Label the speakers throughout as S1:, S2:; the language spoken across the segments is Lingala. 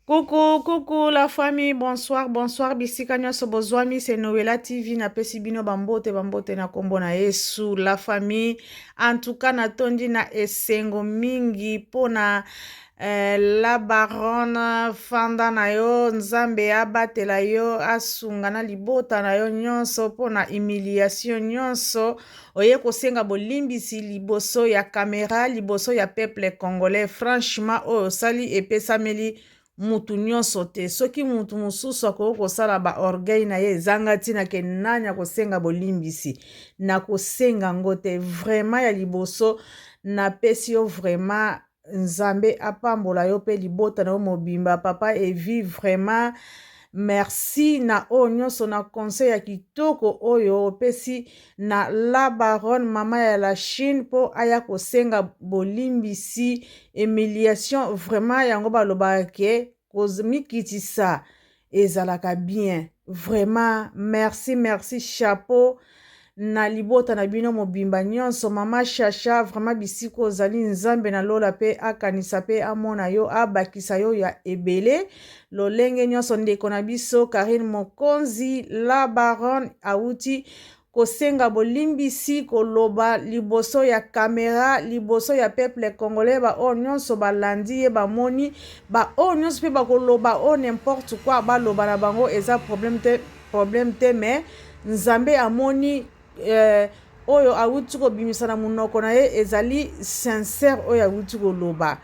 S1: Coucou, coucou la famille, bonsoir, bonsoir, bisika nyonso bozwami, c'est Noëlla TV, napesi bino bambote, bambote na kombo na Yesu, la famille, en tout cas natondi na esengo mingi mpo na eh, la baronne fanda na yo, Nzambe abatela yo, asunga na libota na yo nyonso mpo na humiliation nyonso oye kosenga bolimbisi liboso ya kamera liboso ya peuple congolais franchement oyo osali epesameli mutu nyonso te soki mutu mosusu akoki kosala baorgueil na ye ezanga ntina ke nani akosenga bolimbisi na kosenga yango te vraimen ya liboso napesi yo vraimen Nzambe apambola yo pe libota na yo mobimba papa Evi vraiment merci na oyo nyonso na conseil ya kitoko oyo opesi na la baronne mama ya la Chine mpo aya kosenga bolimbisi humiliation vraiment yango balobaka ke kozmikitisa ezalaka bien vraiment merci merci chapeau na libota na bino mobimba nyonso mama shasha vraiment bisika ozali nzambe na lola pe akanisa pe amona yo abakisa yo ya ebele lolenge nyonso ndeko na biso karine mokonzi la baronne auti kosenga bolimbisi koloba liboso ya camera liboso ya peuple congolais ba oyo nionso balandi ye bamoni ba oyo nionso pe bakoloba oyo n'importe quoi baloba na bango eza problème te problème te mais nzambe amoni euh, oyo awuti kobimisa na monoko na ye ezali sincère oyo awuti koloba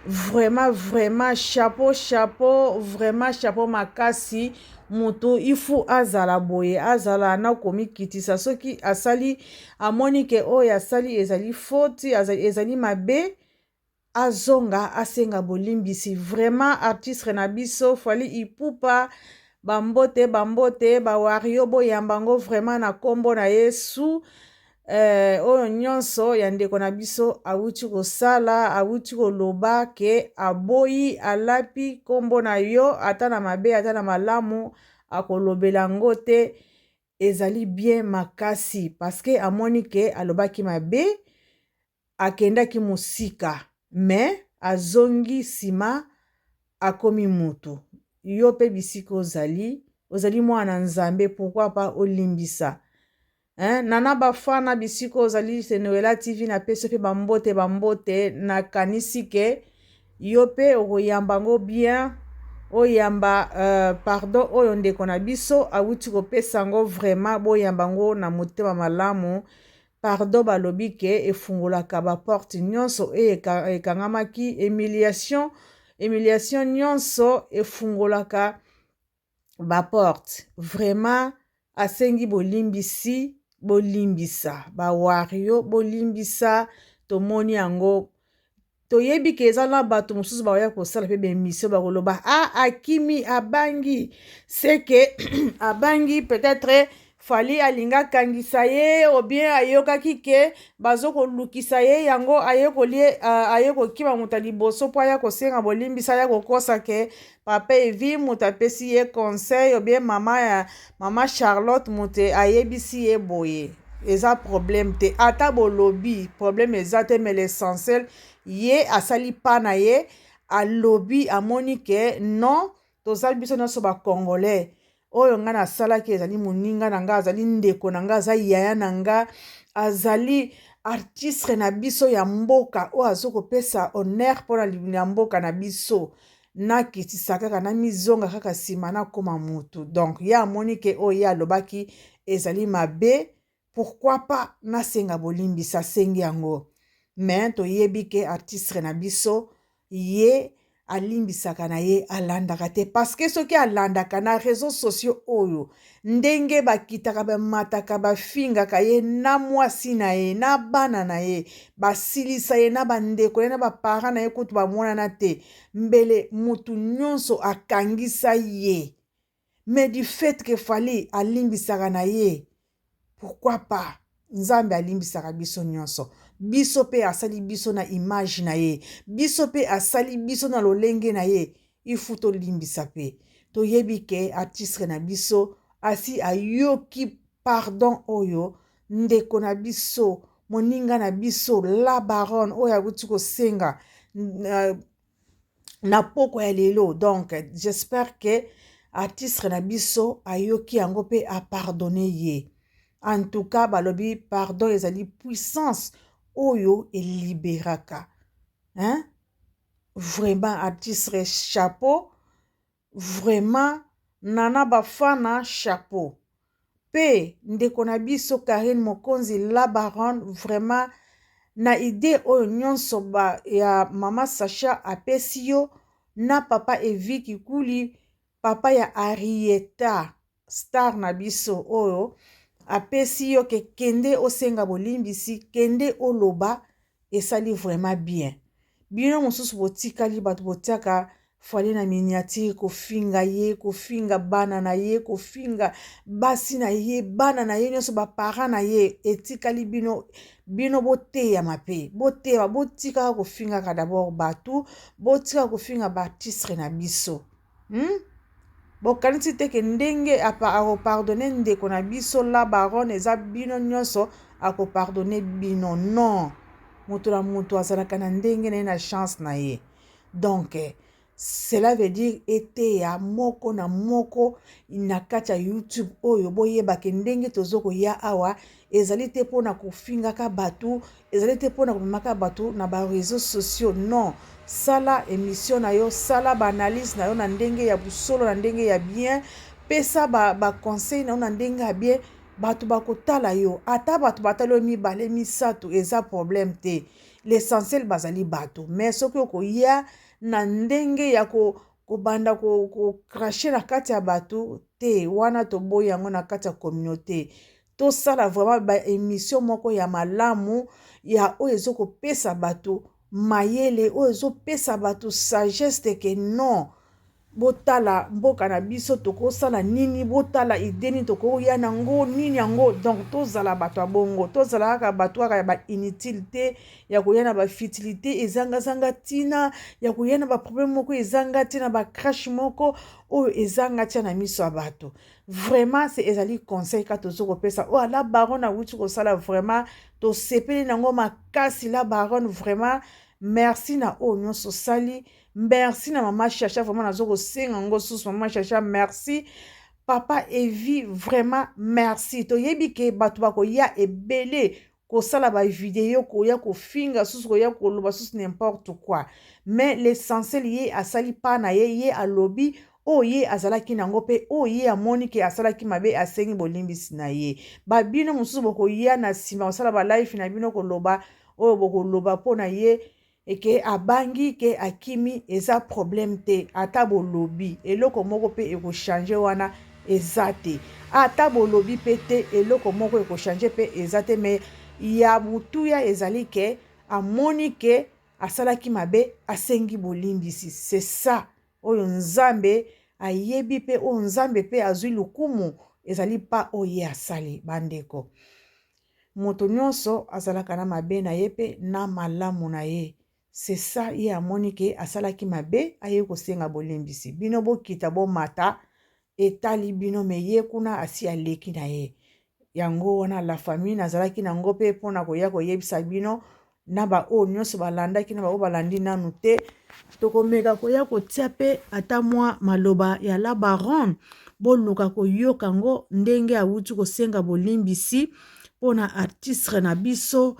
S1: vraiment vraiment chapeau chapeau vraiment chapeau makasi moto il faut azala boye azala na komikitisa soki asali amoni ke oyo asali ezali foti ezali mabe azonga asenga bolimbisi vraiment artistre na biso fali ipupa bambote bambote bawario boyamba yango vraiment na nkombo na yesu Eh oyo nyonso ya ndeko na biso awuti kosala awuti koloba ke aboyi alapi kombo na yo ata na mabe ata na malamu akolobela yango te ezali bien makasi paske amoni ke alobaki mabe akendaki musika mais azongi sima akomi mutu yo pe bisika ozali ozali mwana na nzambe pourquoi pas olimbisa hein nana bafana bisika ozali se noela tv na pesi pe ba mbote ba mbote na kanisi ke yo pe okoyamba ngo bien oyamba euh, pardon oyo ndeko na biso awuti kopesa ngo vraiment boyamba ngo na motema malamu Pardon balobi ke efungolaka ba porte nionso oyo ekangamaki humiliation humiliation nionso efungolaka ba porte vraiment asengi bolimbisi bolimbisa ba wario bolimbisa tomoni yango toyebi ke eza na bato mosusu bakoya kosala mpe baemission bakoloba a ah, akimi abangi seke abangi peut-être fali alingi akangisa ye obien ayokaki ke bazokolukisa ye yango aye kolie aye kokima moto ya liboso mpo aya kosenga bolimbisa aya kokosa ke papa evi moto apesi ye conseil obie mama ya mama charlotte moto ayebisi ye boye eza problème te ata bolobi problème eza te mais l'essentiel ye asali pa na ye alobi amoni ke non tozali biso nyonso bacongolais oyo ngai nasalaki ezali moninga na ngai azali ndeko na ngai aza yaya na ngai azali artistre na biso ya mboka oyo azo kopesa honneur mpona ya mboka na biso nakitisa kaka namizonga kaka nsima nakoma motu donc ye amoni ke oyo ye alobaki ezali mabe Pourquoi pas na senga bolimbisa asengi yango mais toyebi ke artistre na biso ye alimbisaka na ye alandaka te parce que soki alandaka na reseaux sociaux oyo ndenge bakitaka bamataka bafingaka ye na mwasi na ye na bana na ye basilisa ye na bandeko na ye na baparent na ye kutu bamonana te mbele motu nyonso akangisa ye Mais du fait que Fally alimbisaka na ye pourquoi pas Nzambe alimbisaka biso nionso. Biso pe asali biso na image na ye. Biso pe asali biso na lolenge na ye. Il fout to limbisa pe. To yebi ke artistre na biso asi ayoki pardon oyo ndeko na biso moninga na biso la baronne oyo awuti kosenga euh, na pokwa ya lelo donc j'espère que artiste na biso ayoki yango mpe apardonne ye en tout cas balobi pardon ezali puissance oyo eliberaka hein? vraiment artiste chapeau Vraiment nana bafana chapeau. Pe ndeko na biso Carine Mokonzi la baronne vraiment na idee oyo nionso ba ya maman Sacha apesi yo na papa Evi kikuli papa ya Arietta star na biso oyo apesi yo ke kende osenga bolimbisi kende oloba esali vraiment bien bino mosusu botikali bato botiaka fwale na miniatire kofinga ye kofinga bana na ye kofinga basi na ye bana na ye nyonso baparent na ye etikali bino bino boteyama mpe boteyama botikaka kofingaka dabord bato botikaka kofinga baartistre na biso Hum bokanisi te ke ndenge ako pardonner ndeko na biso la baronne eza bino nionso ako pardonner bino non mutu na mutu azalaka na ndenge na ye na chance na ye donc cela veut dire eteya moko na moko na kati ya youtube oyo boyeba ke ndenge tozo koya awa ezali te mpo na kofingaka bato ezali te mpo na komemaka bato na bareseau sociaux non sala emission na yo sala baanalyse na yo na ndenge ya bosolo na ndenge ya bien pesa baconseil ba na yo na ndenge ya bien bato bakotala yo ata bato batali oyo mibale misato eza problème te l'essentiel bazali bato mais soki okoya na ndenge ya ko kobanda kokrache na kati ya bato te wana toboyi yango na kati ya communauté tosala vraiment ba emission moko ya malamu ya oyo ezokopesa bato mayele oyo ezopesa bato sagesse de que non botala mboka na biso tokosala nini botala ide nini tokoya na yango nini yango donc tozala bato ya bongo tozala kaka bato kaka ya bainutile te ya koya na bafutilité ezangazanga ntina ya koya na baproblème moko ezanga ntina bacrache moko oyo ezanga ntina na miso ya bato vraiment se ezali conseil kaka tozo kopesa oyo oh, la baronne awuti kosala vraiment tosepeli nango makasi la baronne vraiment merci na oyo nyonso osali merci na mama chacha vraiment nazo kosenga ngo susu mama chacha merci papa evi vraiment merci toyebi ke bato bakoya ebele kosala ba video koya kofinga susu koya koloba susu n'importe quoi mais l'essentiel ye asali pas na ye ye alobi oyo ye azalaki nango mpe oyo ye amoni ke asalaki mabe asengi bolimbisi na ye babino mosusu bokoya na nsima kosala balife na bino koloba oyo bokoloba mpo na ye et que abangi que akimi eza problème te ata bolobi eloko moko pe eko changer wana eza te ata bolobi pe te eloko moko eko changer pe eza te mais ya motuya ezali que amoni que asalaki mabe asengi bolimbisi c'est ça oyo nzambe ayebi pe oyo nzambe pe azwi lokumu ezali pa oyo ye asali bandeko Moto nionso azalaka na mabe na ye pe na malamu na ye c'est ça ye amoni ke asalaki mabe aye kosenga bolimbisi bino bokita bomata etali bino mais ye kuna asi aleki na ye yango wana la famille nazalaki na ngo pe pona koya koyebisa bino na baoyo nyonso balandaki na baoyo balandi nanu te tokomeka koya kotia mpe ata mwa maloba ya la baronne boluka koyoka yango ndenge awuti kosenga bolimbisi mpo na artistre na biso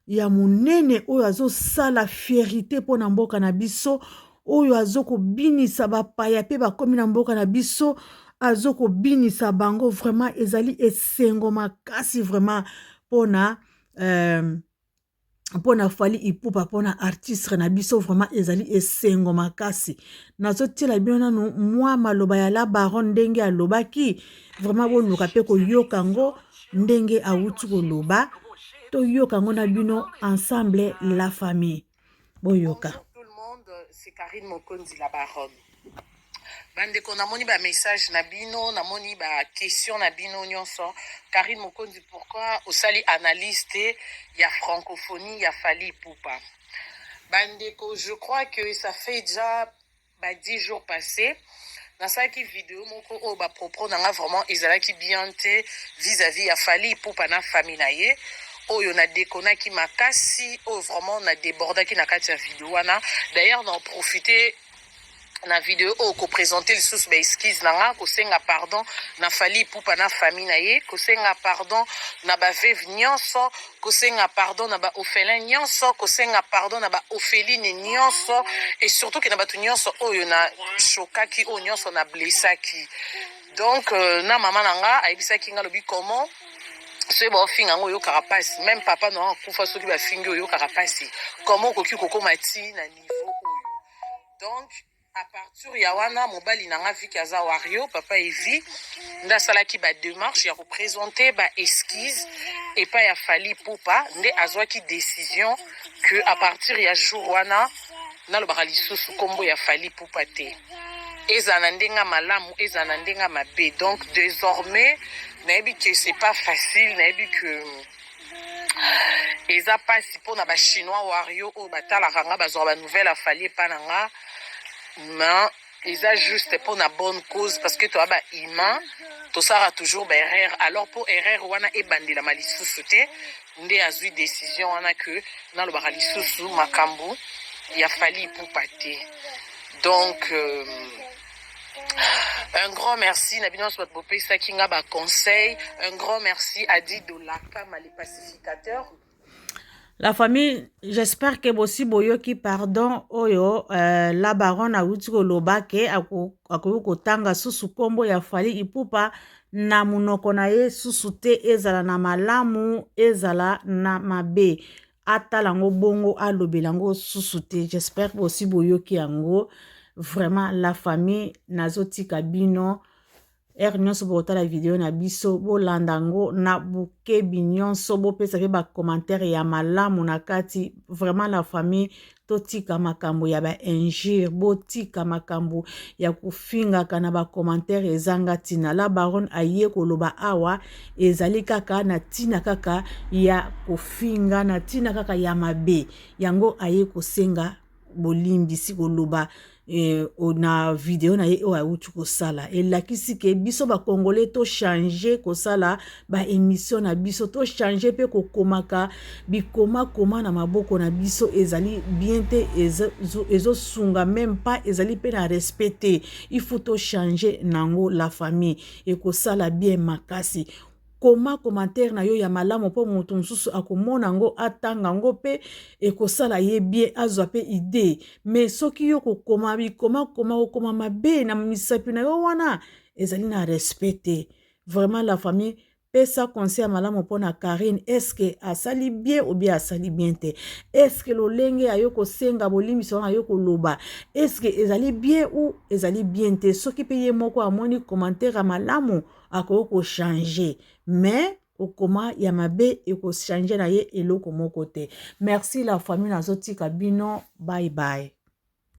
S1: ya monene oyo azosala fierite mpo na mboka na biso oyo azokobinisa bapaya mpe bakomi na mboka na biso azokobinisa bango vraiment ezali esengo makasi vraiment mpo na euh, mpona fali ipupa mpona artistre na biso vraiment ezali esengo makasi nazotiela bino nanu mwa maloba ya la baron ndenge alobaki vraiment boluka mpe koyoka yango ndenge awuti koloba toyoka yango na bino ensemble la famille boyoka
S2: bandeko namoni bamessage na bino namoni baquestion na bino nyonso karine mokonzi pourquoi osali analyse te ya francophonie ya fali pupa bandeko je crois que ça fait déjà ba 10 jours passés nasalaki video moko oyo bapropro na nga vraiment ezalaki bien te vis-à-vis ya fali ipupa na famille na ye oyo na dekonaki makasi oyo vraiment na debordaki na kati ya video wana d'ailleurs na profite na video oyo kopresente lisusu baexcuse na nga kosenga pardon na fali ipupa na famille na ye kosenga pardon na baveve nyonso kosenga pardon na ba orphelin nyonso kosenga pardon na ba orpheline nyonso et surtout ke na bato nyonso oyo na shokaki oyo nyonso na blessaki donc euh, na mama na nga ayebisaki nga lobi comment soki baofinga yango oyokaka mpasi meme papa na akufa soki bafingi oyokaka mpasi comment okoki kokoma ti na niveau oyo donc A partir ya wana mobali na nga viki aza wario papa evi nde asalaki ba demarche ya kopresente ba esquise epai ya fali pupa nde azwaki decision que a partir ya jour wana nalobaka lisusu nkombo ya fali pupa te ezala na ndenge ya malamu ezala na ndenge ya mabe donc désormais nayebi que c'est pas facile nayebi que eza pasi mpo na bachinois wario oyo batalaka nga bazwaka banouvelle ya fali epa na nga ma eza juste mpo na bonne cause parce que toya bahumain tosalaka toujours baerreur alors mpo erreur wana ebandelama lisusu te nde azwi décision wana ke nalobaka lisusu makambo ya fali ipupa te donc euh, Un grand merci na bino soit bopesa kinga ba conseil. Un grand merci à Dido Lakama les pacificateurs.
S1: La famille, j'espère que bosi boyoki pardon oyo euh, la baronne awuti koloba ke akoki kotanga susu nkombo ya Fally Ipupa na monoko na ye susu te ezala na malamu ezala na mabe. atala yango bongo alobela yango susu te j'espère bosi boyoki yango vraiment la famille nazotika bino heure nyonso bokotala video na biso bolanda yango na bokebi nyonso bopesa mpe bacommentaire ya malamu na kati vraiment la famille totika makambo ya ba injure botika makambo ya kofingaka na bacommentaire ezanga ntina la baronne aye koloba awa ezali kaka na ntina kaka ya kofinga na ntina kaka ya mabe yango aye kosenga bolimbisi koloba eh, na video na ye oyo awuti kosala elakisi ke biso bakongole tochange kosala baémission na biso tochange mpe kokomaka bikomakoma na maboko na biso ezali bien te ezosunga meme pas ezali mpe na respect te il faut tochange nango la famille ekosala bien makasi Koma commentaire na yo ya malamu mpo moto mosusu akomona yango atanga yango mpe ekosala ye bien azwa mpe idee mais soki yo kokoma bikoma koma kokoma mabe na misapi na yo wana ezali na respect te vraiment la famille pesa conseil ya malamu mpo na karine eske asali bien obie asali bien te eske lolenge ya yo kosenga bolimbisi wana yo koloba eske ezali bien ou ezali bien te soki mpe ye moko amoni commentaire ya malamu akoki kochange mais okoma ya mabe ekochange na ye eloko moko te merci la famille nazotika bino bye bye